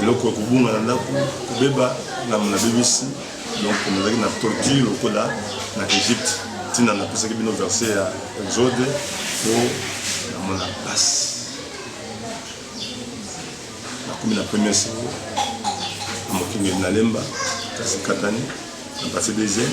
eloko ya kobunga na ndako kobeba ngambo nabebisi donc nazalaki na torture lokola na egypte ntina napesaki bino verse ya exode mpo namona mpasi nakomi na premier seko na mokengeli nalemba kasi katani na base deuxième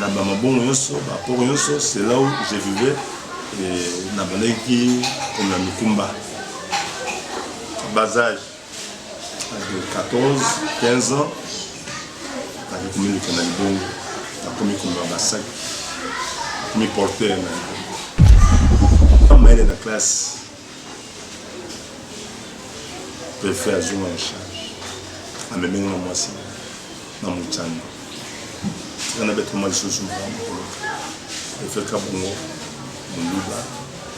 na ba mabongo nyonso ba port nyonso c'est là où je vivais na bandaki komema mikumba bas âge de 14 15 ans nakoki komiluka na libongo nakomi komema basaki nakomi porteur na mayele na classe prefet azwi nga na charge amemi nga na mwasi na mocanga tika nabetama lisusu mokolo prefet kabongo moluba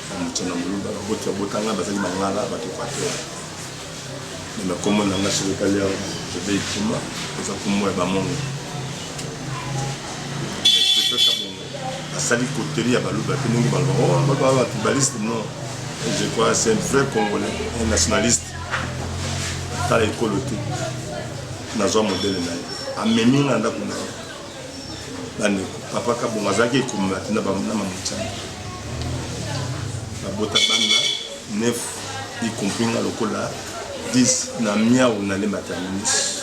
na mocanga moluba baboti abotanga bazali bangala bato equateur me nakombo na nga soki otali awa bebe ikuma eza kombo ya bamongo asali coterie ya baluba te ndenge baloba oh, baluba ba tribaliste non je crois c'est un vrai congolais un nationaliste tala ekolo te nazwa modele na ye amemi nga ndako na ye bandeko papa kabongo azalaki ekomela te na mamotiana babota banda 9 y compris nga lokola 10 na miau na le mataminis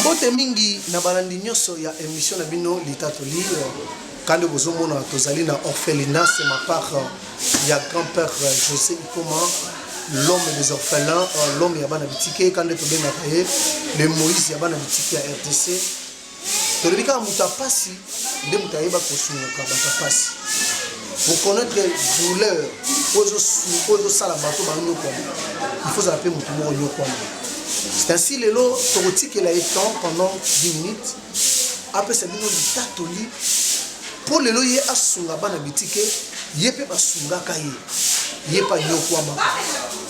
Mbote mingi na balandi nyonso ya emission na bino litatoli kande bozomona tozali na orphelina c'est ma part ya grand-père José Ikoma l'homme des orphelins l'homme ya bana bitike kande tobengaka ye le Moïse ya bana bitike ya RDC tolobi kaka moto ya mpasi nde moto ayeba kosungaka bato ya mpasi koconnaître douleur oyo ezosala bato banyokwama ifo ozala mpe moto moko nyokwama c'est ainsi lelo tokotikela ye temps pendant 10 minutes apesa bino litatoli mpo lelo ye asunga bana bitike ye mpe basungaka ye ye mpe anyokwamaka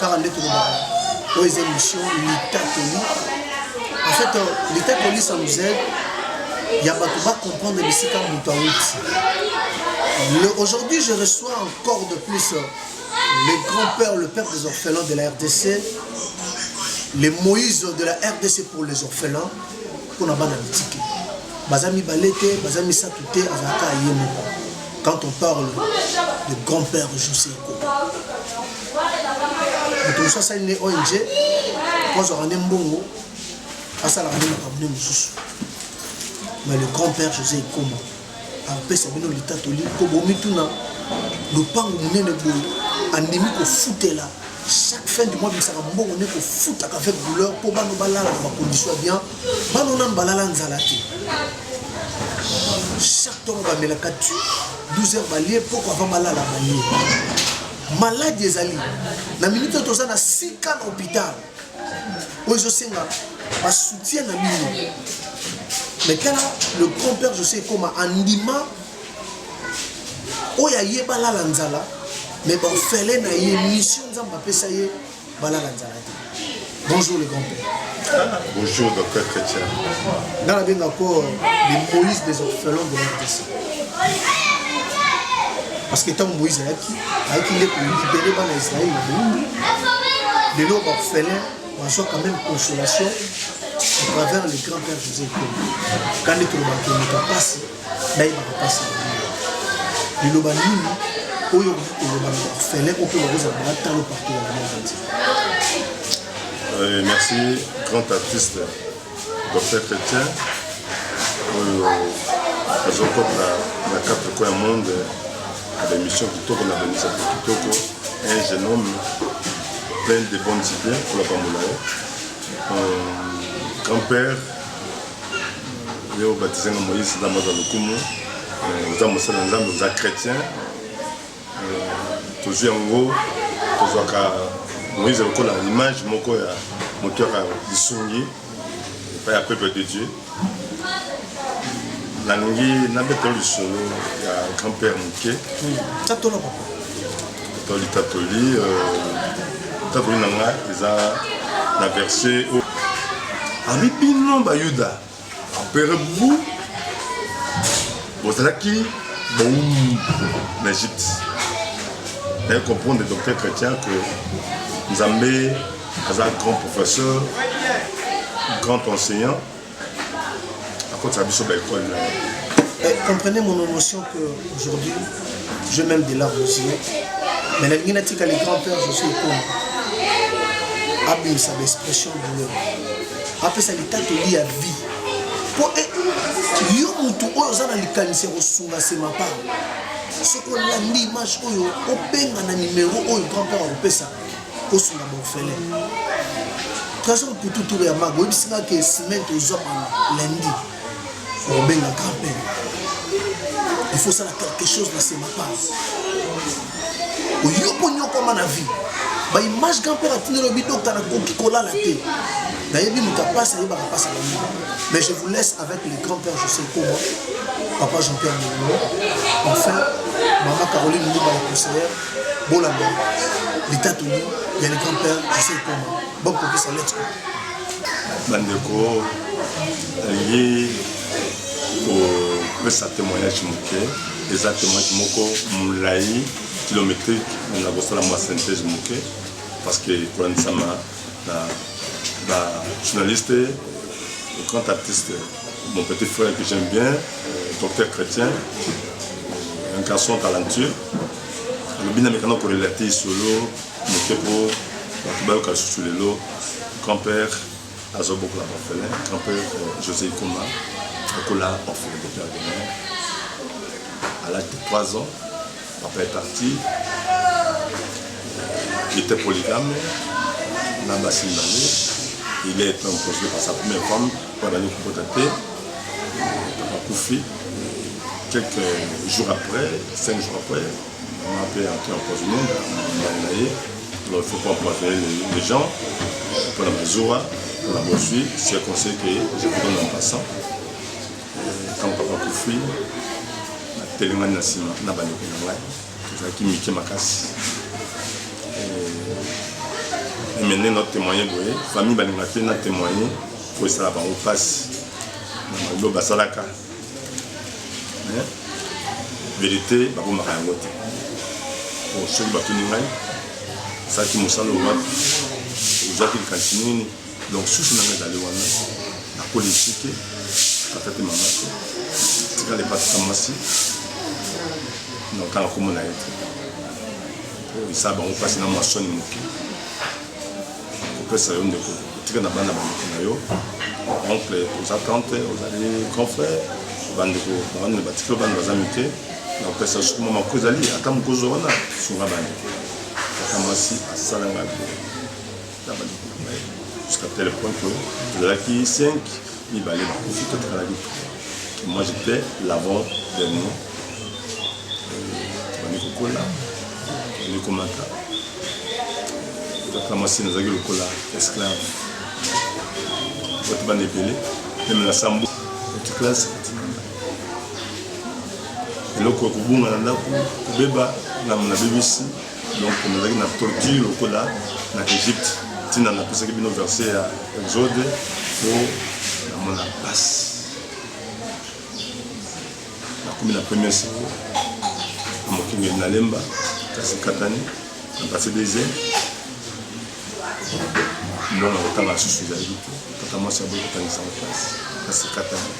kaka nde tolobaka oyo eza émission litatoli en fait euh, litatoli ça nous aide ya bato bacomprendre bisika moto awuti aujourd'hui je reçois encore de plus euh, le grand père le père des orphelins de la rdc les moïse de la rdc pour les orphelins mpo na bana bitike baza mibale te baza misato te azalaka ye moko quand on parle de grand père joseko moto mosusu asali nde ong mpo azwaka nde mbongo asalaka nde makambo nde mosusu mais le grand père josé ekoma apesa bino litatoli mpo bomituna lopango monene boye andimi kofutela chaque fin du mois bimisaka mbongo nde kofutaka avec douleur mpo bano balala na bacondition ya bien bano nanu balala nzala te chaque ntongo bamelaka tu 12 heures balie mpoko avant balala balie maladi ezali na minute oyo toza na sika na hôpital oyo ezosenga basoutien na bino mais tala le grand père josé ekoma andima oyo aye balala nzala mais baofele na ye mission nzambe apesa ye balala nzala te bonjour le grand père bonjour docteur chrétien nga nabenga ko le moïse des orphelins de la parce que ntango moïse ayaki ayaki nde kolibere bana israele na boumbi lelo bafelin bazwa quand même consolation à travers le grand père josé ekolo ka nde tolobaka moto apasi nayebaka mpasi liloba nini oyo okoki koloba na bafelin oyo mpe bakozala na batalo partout ya monde entier euh, merci grand artiste Docteur Chrétien oyo azokota na quatre coin ya monde na baémission kitoko na bainitiative kitoko un jeune homme plein de bonnes idées mpo napambola ye grand père ye obatisenga moïse ndambo aza lokumu oza mosala nzambe oza chrétien tozwi yango tozwaka moïse lokola image moko ya moto yaka lisungi epai ya peuple de dieu nalingi nabetelo lisolo ya grand père moke tatola papa tatoli tatoli tatoli na ngai eza na verse oyo abi bino bayuda Empereur Boubou, bozalaki boum na Egypte. Naye comprendre docteur chrétien que Nzambe aza grand professeur, grand enseignant, akotisa biso ba école na ye. Eh, comprenez mon émotion que aujourd'hui je même de larmes aux yeux mais nalingi natika le grand père josé ekoma abimisa baexpression douleur apesa litatoli ya vie mpo e, yo motu oyo oza na likanisi ya kosunga nsema pao soki olandi image oyo obenga na nimero oyo grand père akopesa osunga baofele trésor putu tour ya mago oyebisi nga ke semaine tozwa bana lundi obenga kape il faut osala quelque chose na sema pase oyokonyokwama na vie baimage grand père atindi lobi dokta nakoki kolala te nayebi moto apasi ayebaka mpasi bango mais je vous laisse avec le grand père josé koba papa jean pierre molimo enfin mama caroline mbuba la conseillère bolanda litatoli ya le grand père josé koba bokokisa lettre Bandeko, nalingi kopesa temoignage moke. Eza temoignage moko molai kilometrique, na kosala mwa synthèse moke parce que kolandisama na ba journaliste grand artiste mon petit frère que j'aime bien euh, docteur chrétien un garçon talentueux alobi na mekana korelate solo Moke po bato bayoka lisusu lelo grand père azo bokola ba orphelin grand père euh, José Ikoma akola orphelin de père de mère à l'âge de 3 ans papa est parti il était polygame na basi mibale il est un projet par sa première femme po abandi kokota te papa kufi quelques jours après cinq jours après Après, après empoisonné, na ye, alors il faut pas empoisonner les, les gens. Pour la Mazoua, pour la Bosui, c'est un conseil que je vous donne en passant. Euh, Quand papa Koufi, na telengani na sima na bandeko na ngai tozalaki mike makasi emene na témoigne boye famille balinga te na témoigne po esala bango mpasi na maloba basalaka mais verite babombaka yango te po soki batuni ngai osalaki mosala owapi ozwaki likanisi nini donc susi nanga ezali wana nakoli esike tata te mama te tikala epatisa mwasi notanga komona ye te po esala bango mpasi na mwa soni moke kopesa yo ndeko kotika na bana bandeko na yo oncle oza tante ozali grand frère bandeko bawana batikelo bana baza mike na kopesa yo sukuma mako ezali ata mokozo wana sunga bandeko ata mwasi asala ngai na bandeko na ye jusqu'à tel point que tozalaki 5 mibale bakufi totikalaki moi je plais l'avant dernier tobandi kokola tobandi komata kaka mwasi nazalaki lokola esclave bato bana ebele meme na sambo petit classe eloko ekobunga na ndako kobeba na mona bebisi donc nazalaki na tortue lokola na egypte ntina napesaki bino verse ya exode mpo namona mpasi nakomi na premier seko na mokengeli na lemba kasi katani na base des mbongo kotanga lisusu ezalaki te kaka mwasi aboyi kotangisa na place kasi katani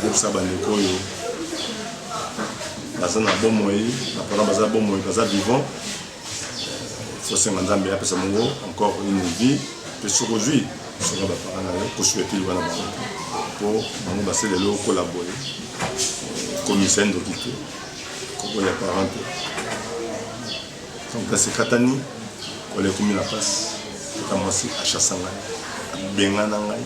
yebisa bandeko oyo baza na bomoi na parent baza bomoi baza vivant tosenga nzambe apesa bango encore une vie mpe soki ozwi soki baparent na yo kosuete liwa na bango mpo bango base lelo okola boye komisa ndoki te kokoya parent te donc kasi ekatani kolekomi na mpasi kaka mwasi achasanga abengana ngai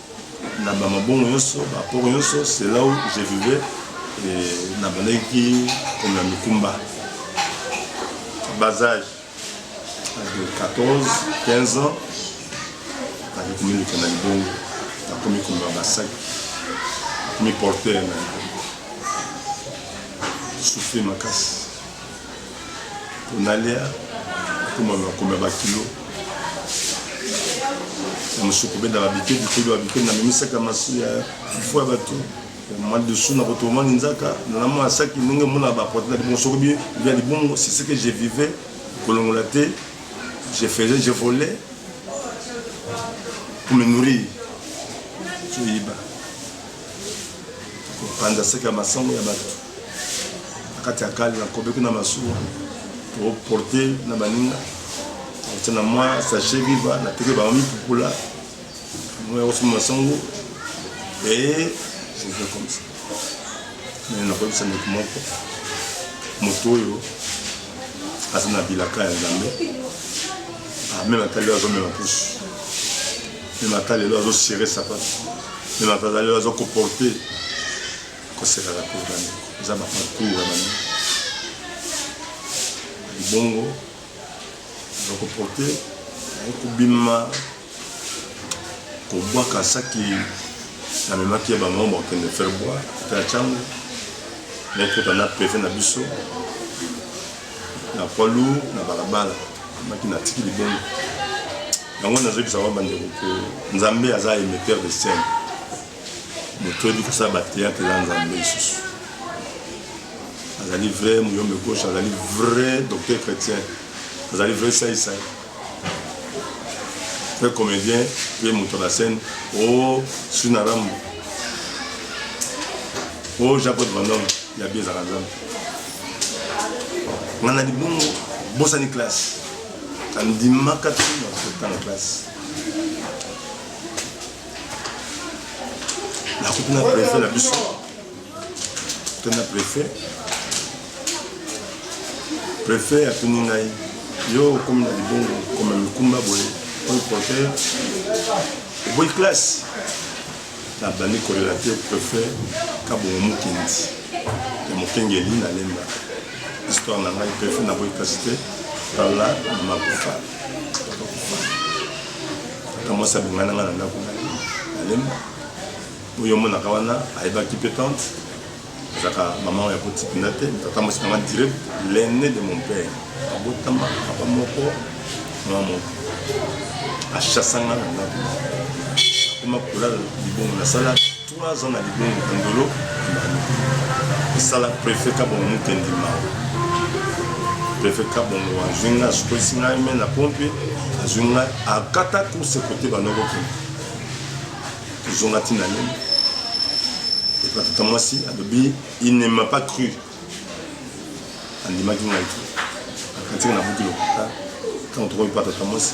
Na ba mabongo yonso, ba port yonso, c'est là où je vivais et na bandaki ki komema mikumba. Bas age, age de 14, 15 ans, nakomi komiluka na libongo, nakomi komema basaki, nakomi porteur na libongo. Souffrir makasi. Tonalia akoma na komela ba kilo na mosoko benda ba bike bikeli ba bikeli na mimisaka masu ya fufu ya bato madusu na kotomani nzaka na mwa saki ndenge mona ba porte na mosoko bi via libongo c'est ce que je vivais kolongola te je faisais je volais pour me nourrir soyiba kopanza saki ya masango ya bato na kati ya kale nakobeki na masuwa toporte na baninga oti na mwa sache viva nateki bango mipupula moya kosoma masango e je fais comme ça mais nakoyebisa ndeko moko moto oyo aza na bilaka ya nzambe ameme ata lelo azomema pusu meme ata lelo azosere sapatu meme ata lelo azokoporte kosekaka te bana eza ba parcours ya bana libongo bakoporte naye kobima kobwaka saki namemaki ya bango bakokende faire boire mpe ya cango nakota na peve na biso na poids lourd na balabala maki natiki libongo yango nazoyebisa wa bandeko ko nzambe aza emetteur de scène Moto oyebi kosala ba theatre eza Nzambe lisusu. Azali vrai muyombe gauche, azali vrai docteur chrétien, azali vrai sai sai. Vrai comédien, pe moto na scène. Oh, Sina Rambo. Oh, Jean-Claude Van Damme, ya bi ezaka Nzambe. Nga na libongo, bosani classe. Andimaka te na kotanga classe. nakuti na prefet na biso to na prefet prefet atuni ngai yo okomi na libongo koma mikumba boye oyo porter oboyi classe nabandi kolela te prefet kabongo mokindi ya mokengeli na lemba histoire na ngai prefet naboyi classe te tala makufa na mwasi abima na ngai na ndako na ye nalembi oyo omonaka wana ayebaki mpe tante azalaka mama oyo akotikina te tata mwasi na ngai direct l'aine de mon père abotama papa moko mama moko achasanga na ndako akoma kolala libongo nasala Trois ans na libongo kundolo Emmanuel esala prefet kabongo mukendi mao prefet kabongo azwi ngai asukolisi ngai me na pompe azwi ngai akata course kote banoko kende tozonga ntina lelo epa tata mwasi alobi il ne m'a pas cru andimaki ngai te akantika na buki lokuta ntango tokomi pa tata mwasi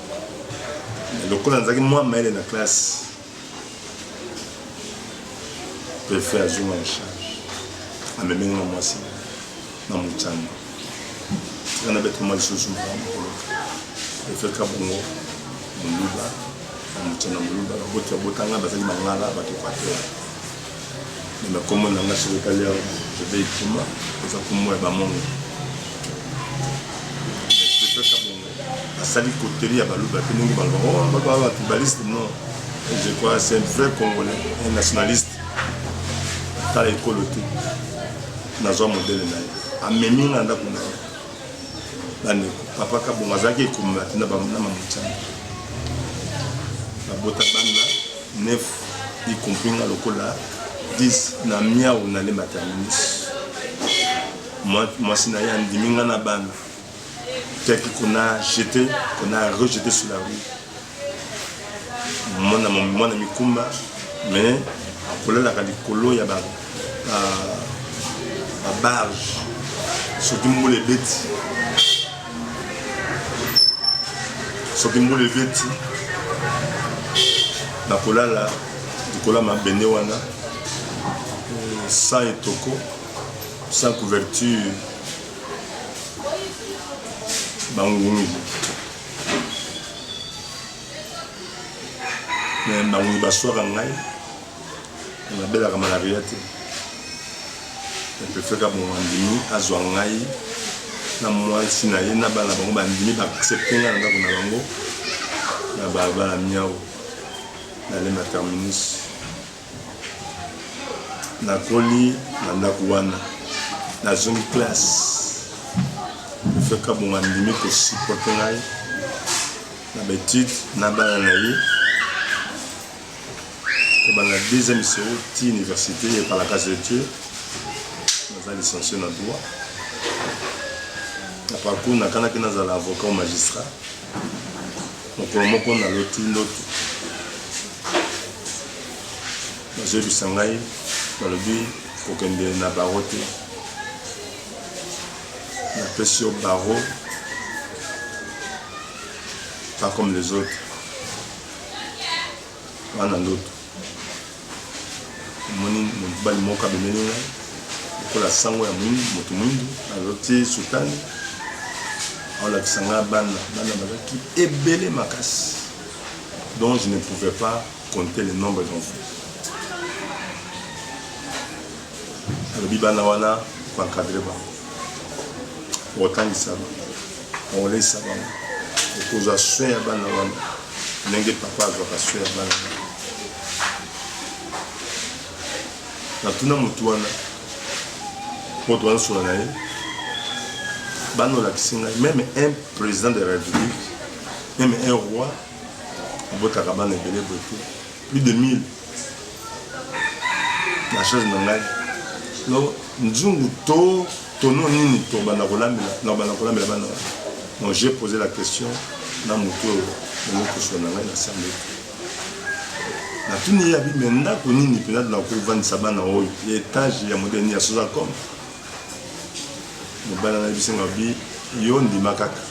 lokola nazalaki mwa mayele na classe prefe azonga na charge amemenge na mwasi na mocanga tika nabeta mwa lisusu mokolo prefe kabongo moluba na mocanga moluba baboti babotanga bazali mangala bato equateur na makombo na nga soki etali awa jebe ekima eza kombo ya bamongo asali coterie ya baluba mpe ndenge baloba oh, baluba ba tribaliste non je crois c'est un vrai congolais un nationaliste tala ekolo te nazwa modele na ye amemi nga ndako na ye bandeko papa kabongo azalaki ekomela te na mamotiana babota banda 9 y compris nga lokola 10 na miau na le mataminis mwasi na ye andimi nga na bana teki qu'on a jeté qu'on a rejeté sur la rue mwana mwana mikumba mais akolalaka likolo ya ba barge soki mbula ebeti soki mbula ebeti nakolala likolo ya mabende wana sans etoko sans couverture bangungi me bangungi baswaka ngai nabelaka malaria te epefeka bongo andimi azwa ngai na mwasi na ye na bana bango bandimi baaccepte ngai na ndako na bango na balabala miao na lema terminus Nakoli na ndako wana. Nazongi classe. Monsieur Kabongo andimi ko supporter ngai na ba etudes na bana na ye. Kobanda deuxième seau ti université ya Palacas de Dieu. Naza licencié na droit. Na parcours nakanaki nazala avocat ou magistrat. mokolo moko naloti ndoto bazoyebisa ngai balobi kokende na baro te napesi yo baro pas comme les autres wana ndoto Namoni mobali moko abemeli ngai lokola sango ya mwindu, moto mwindu aloti sutani, aolakisa ngai bana bana bazalaki ebele makasi dont je ne pouvais pas compter le nombre d'enfants. alobi bana wana ko encadrer bango okotangisa bango okolesa bango okozwa soin ya bana wana ndenge papa azwaka soin ya bana wana natuna motu wana moto wana sola na ye bana olakisi ngai meme un président de la république meme un roi abotaka bana ebele boye te Plus de 1000 na charge na ngai no nzungu to tono nini tobanda kolambela na banda kolambela bana wana donc j'ai posé la question na moto oyo namokosola na ngai na sambe natuni ye abi me ndako nini mpenza tona kovandisa bana oyo ya etage ya modele nini ya soza comme mobala na ye bisengo abi yo ndima kaka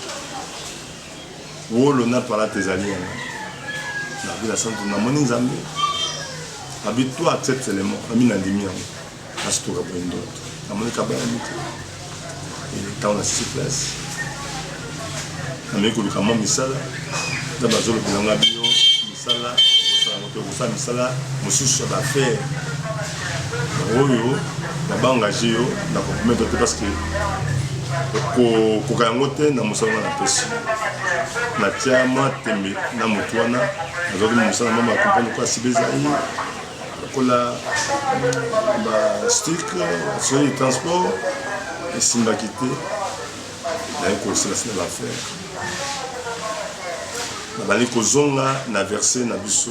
wolo na palata ezali wana na vila santu namoni nzambe abi toi accepte seulement ami nandimi yango asituka boye ndoto namoni kabayami te ntango na sisi place nameki koluka mwa misala na bazolobela nga bino misala okosalango te okosala misala mosusu ya baaffaire oyo na ba engage yo na compromettre te parce que kokoka yango te na mosala wana napesi natya mwa tembe na motu wana nazwaki mosala mama ya kompani kwa sibe ezali lokola bastik soki transport esimbaki te naye kosilasi na bafere nabandi kozonga na verse na biso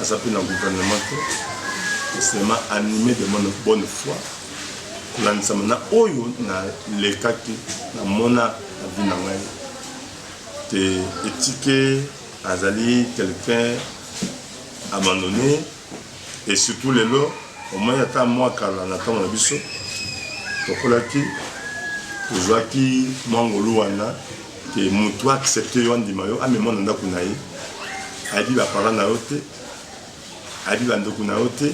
aza mpe na gouvernement te mais seulement animé de mon bonne foi kolandisama na oyo nalekaki namona na vie na ngai te etike azali quelqu'un abandonné et surtout lelo omoni ata mwa kala na ntango na biso tokolaki tozwaki mwa ngolu wana ke mutu accepte yo andima yo amema na ndako na ye ayebi ba parents na yo te ayebi ba ndeko na yo te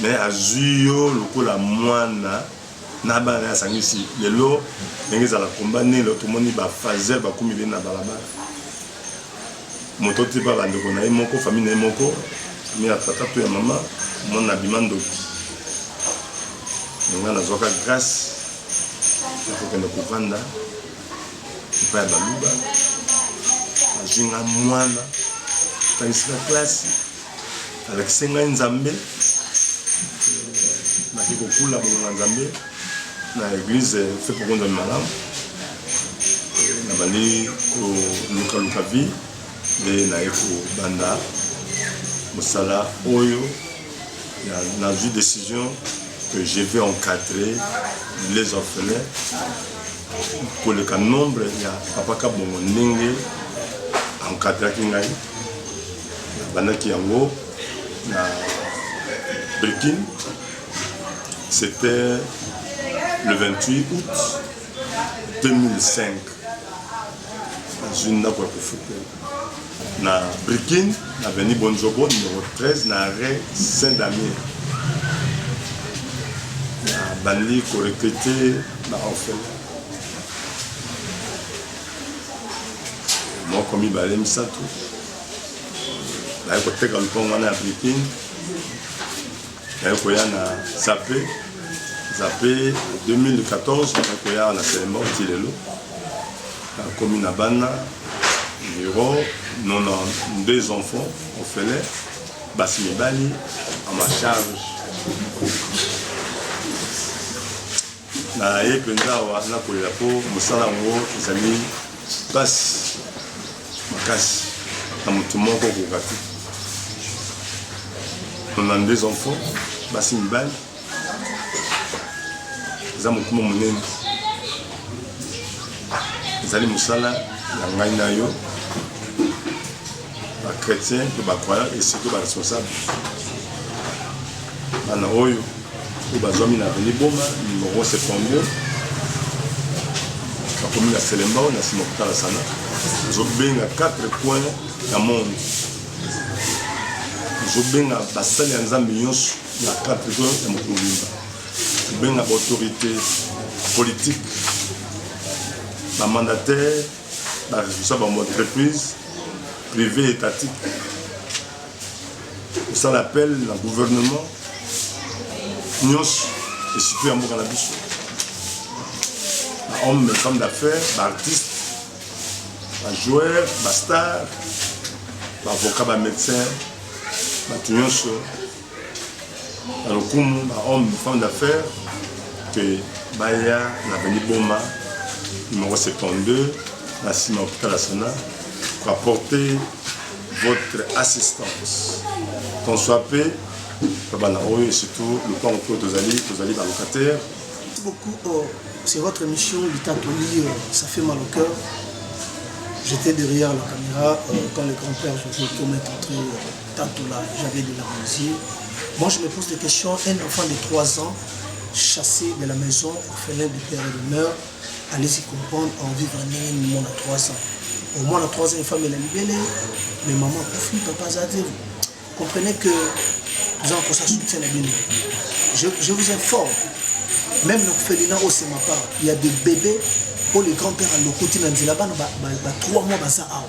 mais azwi yo lokola mwana na bana asangisi lelo ndenge ezala combat nelo tomoni ba fazel bakomi bene na balabala Moto oyo tipa ba ndeko naye moko famille naye moko famille ya tata to ya mama omona na bima ndoki nga nazwaka grace ya kokende kovanda epai ya baluba azwi nga mwana tangisi na klasi alakisi ngai nzambe naki kokula bolonga nzambe na eglise fe pokonza malamu nabandi kolukaluka vie nde naye kobanda mosala oyo nazwi décision que je vais encadrer les orphelins koleka nombre ya papa kabongo ndenge encadraki ngai nabandaki yango na brikine C'était le 28 août 2005 nazwi ndako ya kofutela na brikin na veni bonjobo numero 13 na arret saint damien nabandi korekrute na orphelin moko mibale misato naye koteka lupango wana ya brikin naye koya na zape zape 2014 naye koya na selema oti lelo nakomi na bana miro nona deux enfants ofele basi mibali a ma charge Naye mpenza awa nakolela mpo mosala yango ezali mpasi makasi na moto moko kokoka te. 92 enfants basi mibali eza mokumba monene ezali mosala ya ngai na yo ba chrétien mpe ba croyant esiko ba responsable bana oyo oyo bazwami na aveni boma nimero septembre bakomi na selembao na nsima kotala sana ezobenga 4 coin ya monde ezobenga basali ya nzambe nyonso na 4 coin ya mokolo mobimba ezobenga baautorité politique bamandataire Ba responsable ba entreprise prive étatique osala appel na gouvernement nyonso esiko ya mboka na biso ba homme femme d'affaires ba artiste ba joueur ba star baavocat ba médecin bato nyonso na lokumu ba homme femme d'affaires que baya na veni boma numéro 72 na nsima hôpital ya sana ko apporter votre assistance qu'on soit pe babana oyo surtout lopango mpe tozali tozali balocataire beaucoup oh, c'est votre émission litatoli euh, ça fait mal au cœur j'étais derrière la caméra euh, quand le grand-père José Tom est entré euh, Tatola j'avais de la musique. Moi je me pose des questions, un enfant de 3 ans chassé de la maison, orphelin de père et de mère, allez y comprendre en vivre ndenge ni mwana 3 ans. Au moins na 3 ans efami elali bele, mais maman akufi, papa aza te. Comprenez que toza kosa soutien na bino. Je, je vous informe, même na kofelina osema part, il y a des bébés oyo le grand père alokoti na nzela bana ba 3 mois baza awa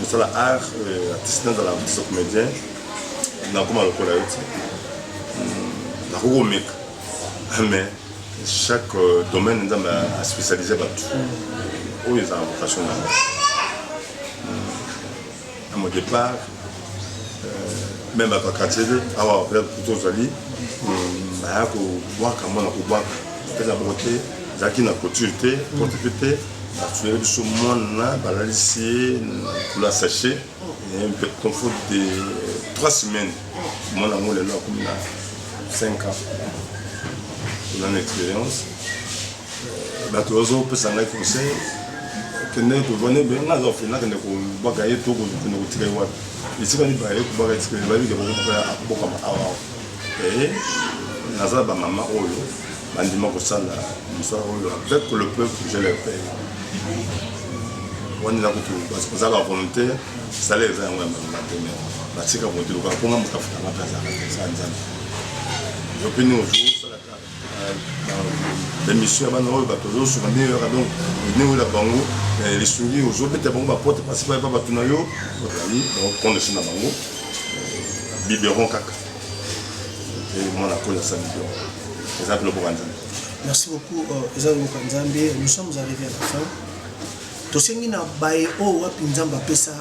mosala art euh, artiste nazala artiste comédien nakoma lokola yo te hmm, nakoki komeka ah, mais chaque euh, domaine nzambe aspécialise bato oyo ezala vocation na yango hmm, à mon départ euh, même bato ya quartier awa kutu ozali hmm, baya kobwaka mwana kobwaka mpeza boko te ezalaki na couture te porte te Basueli biso mwana balalisi ye likolo ya sachet mpe confort de 3 semaines mwana yango lelo akomi na 5 ans oza na expérience euh, bato bazopesa ngai conseil kende kovanda ebe ngai aza ofele nakende kobaka ye to kende kotika ye wapi esika nibaka ye kobaka expérience babike bakobaka abokama awa eh, naza bamama oyo Bandima kosala mosala oyo avec le peuple je le paye wani na kutu parce que ozaka volonté sala eza yango ya malonga te mais batika volonté lokola mpo nga moto afutanga mpe azalaka te sa nzambe yo mpe ni ozo osalaka bamission ya bana oyo bato ozosunga nde yoyaka donc newela bango lisungi ozobeta bango baporte principal epa bato na yo ozali baokonde se na bango biberon kaka mwana kolo ya samido eza mpe loboka nzambe merci beaucoup euh, eza loboka nzambe nous sommes arrivé à la fin tosengi na baye oyo oh, wapi nzambe apesa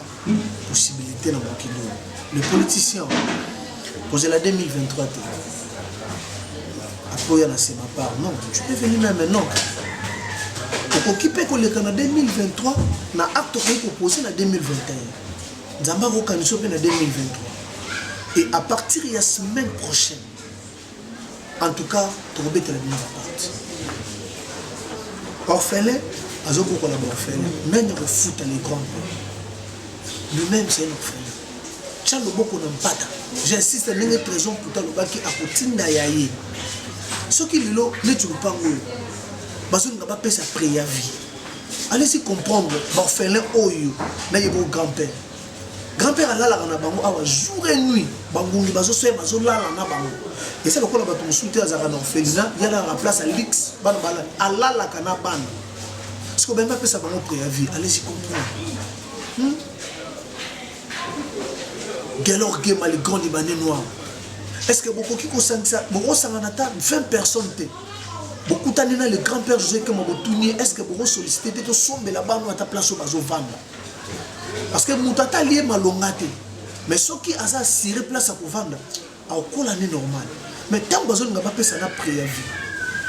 possibilité na mokili oyo le politicien kozela 2023 te akoya na sema part non tu peux venir même non okoki mpe koleka na 2023 na acte okoki kopose na 2021 Nzambe akokanisa yo mpe na 2023 et à partir ya semaine prochaine en tout cas tokobetela bino baporte orphelin azokokola baorphelin nani akofuta les grands lui-même c'est un orphelin tya loboko na mpata j'insiste ndenge trésor mputa alobaki akotinda ya ye soki lelo neti lopango oyo bazolinga bapesa préavis allez-y comprendre baorphelin oyo nayeba oyo grand père grand père alalaka na bango awa jour et nuit bangungi bazosoya bazolala na bango eza lokola bato mosusu te azalaka na orphelina yalalaka place ya luxe bana bala alalaka na bana siko bembe apesa bango préavis allez-y comprendre hmm? gelor gemali grand libanais noir est ce que bokoki kosangisa bokosangana ata 20 personnes te bokutani na le grand père josé kema botuni ye est ce que boko sollicité te tosombela bano ata place oyo bazovanda parce que moto ata alie malonga te mais soki aza assuré place ya kovanda akokola ne normal mais ntango bazolinga bapesa na préavis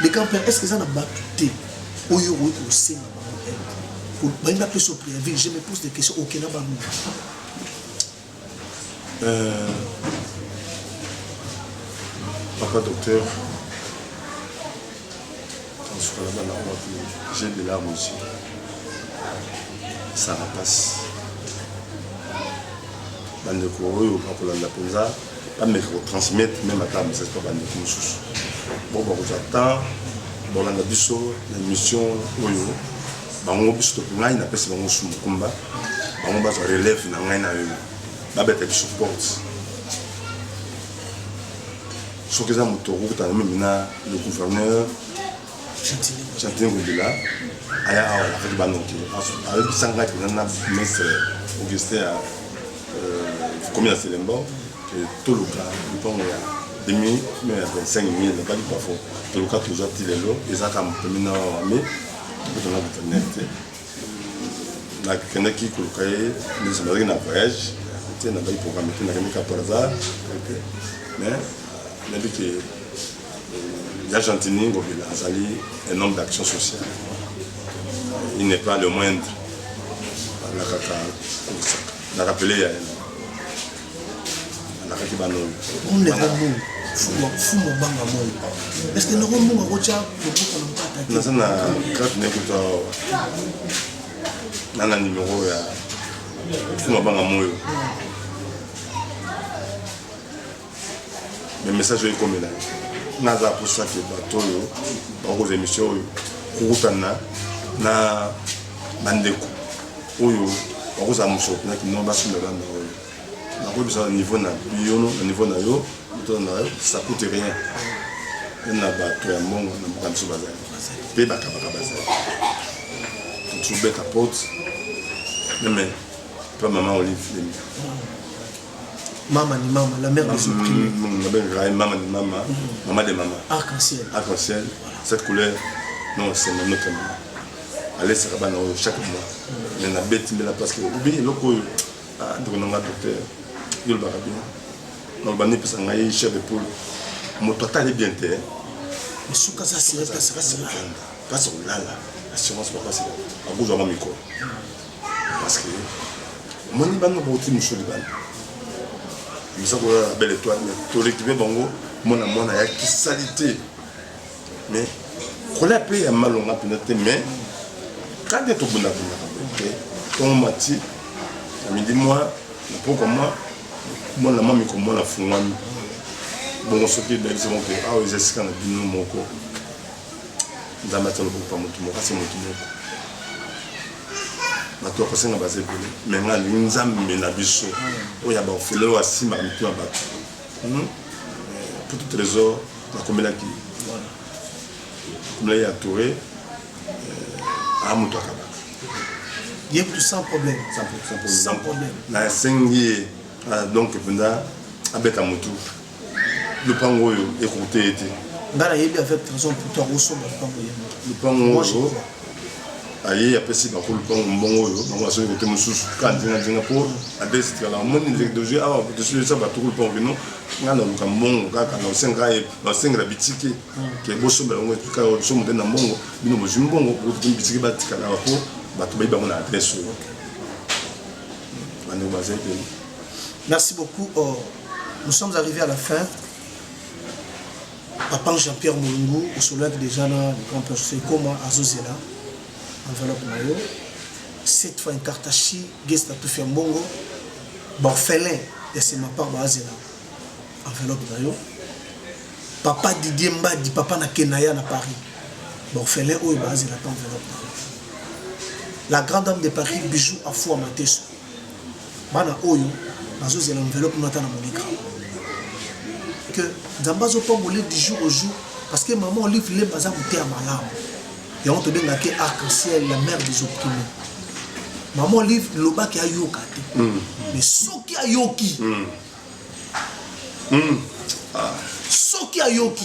le grand père est ce que eza na bato te oyo okoki kosenga bango balingi bapesa yo préavis je me pose des questions okela bango Euh, papa docteur, j'ai des larmes aussi. Ça passe. bandeko oyo bakolanda mpenza bameka kotransmettre meme ata message mpa bandeko mosusu bo bakozwa temps bolanda biso na émission oyo Bango biso to ngai na pesa bango su mukumba. Bango ba za relève na ngai na yo. Ba beta biso porte. Soki eza moto okokutana meme na le gouverneur Chantier Ngobila aya awa na fete banoke ayebisa ngai mpenza na ministre Augustin ya komi ya Selembo toluka lipango ya demi ya 25 000 nabaki bafo toluka tozwa ti lelo ezaka mpemina wame Tozalaki na internet te. Nakendaki koluka ye, biso nazalaki na voyage te, nazalaki programme te, nakendaki par hasard mais nayebi ke ya euh, Gentini Ngobila azali un homme d'action sociale. Il n'est pas le moindre. Nakaka, nakapele ya ye. alakaki banongo omle kombongo fumo banga mongo est ce que noko mbongo akotya loboko na mpata te naza na grade ne kuta na na nimero ya fumo banga moyo me message oyo ekomela naza posa te bato oyo bakozwa émission oyo kokutana na bandeko oyo bakozala mosolo mpena kinoa basimba banda oyo nakoyebisa na niveau na biyono na niveau na yo motona na yo ça coûte rien na bato ya mbongo na mboka biso bazali mpe bakabaka bazali totubeta porte meme mpe mama olive lemia Mama ni mama, la mère des opprimés. Mama ni mama, mama de mama. Arc-en-ciel. Arc-en-ciel, cette couleur, non, c'est ma notre mama. alesaka bana oyo chaque mois me nabeti mbela parce que obi eloko oyo ndeko na nga docteur yolobaka bino naloba nipesa ngai chef de poule moto atali bien te suka kasi olala assurance bakasi akozwama mikolo Parce que omoni banga boti mosu libanda biza kolala na belle étoile mais torekipe bango mwana mwana ya kisali te mais kola mpe ya malonga mpenza te mais kande tobundabundaka te ntongo mati na midi mwa na pokwa mwa mwana mwa mikomona afungwami bongo soki ebebisa moko mpe awa eza esika na bino moko nzambe atalokokupa motu moko kasi motu moko bato ya kosenga baza ebele me nga alingi nzambe na biso oyo ya baofele oyo asimbaka mitu ya bato hmm? pour toute raison nakomelaki nakomelaki ya toure euh, a moto akabaka ye kutu sans problème sans problème nasengi ye ah, donc mpenza abeta motu lupango oyo ekoute ye te nga nayebi avec raison puto akosomba lupango ye lupango oyo aye apesi bango lupango mbongo oyo bango asoki kote mosusu ka ndingadinga mpo adesitikala omoni ndenge dozwi awa tosilisa batuku lupango bino ngai naluka mbongo kaka na osenga ye basengela bitike hmm. ke bosombela yango etika somo te na mbongo bino bozwi mbongo bokotumi bitike batikala awa mpo bato bayi bango na adresse oyo bandeko bazali pene merci beaucoup oh. Nous sommes arrivés à la fin. Papa Jean-Pierre Mulungu, au soleil déjà là, le grand père Sekoma, Azozela, enveloppe Mayo. Cette fois, une carte à chi, Gesta Tufia Mbongo, Borfelin, et c'est ma part, Azela, enveloppe Mayo. Papa Didier Mbadi, papa na Kenaya na Paris, Borfelin, où est Azela, enveloppe Mayo. La grande dame de Paris, Bijou Afou Amateso. bana oyo bazozela enveloppe no ata na monika que nzambe azopambola du jour au jour parce que maman olive lemba aza moteya malamu yango tobengaka ye arc en ciel la mère des opprimés maman olive lobaki ayoka te mm. mais soki ayoki mm. Mm. Ah. soki ayoki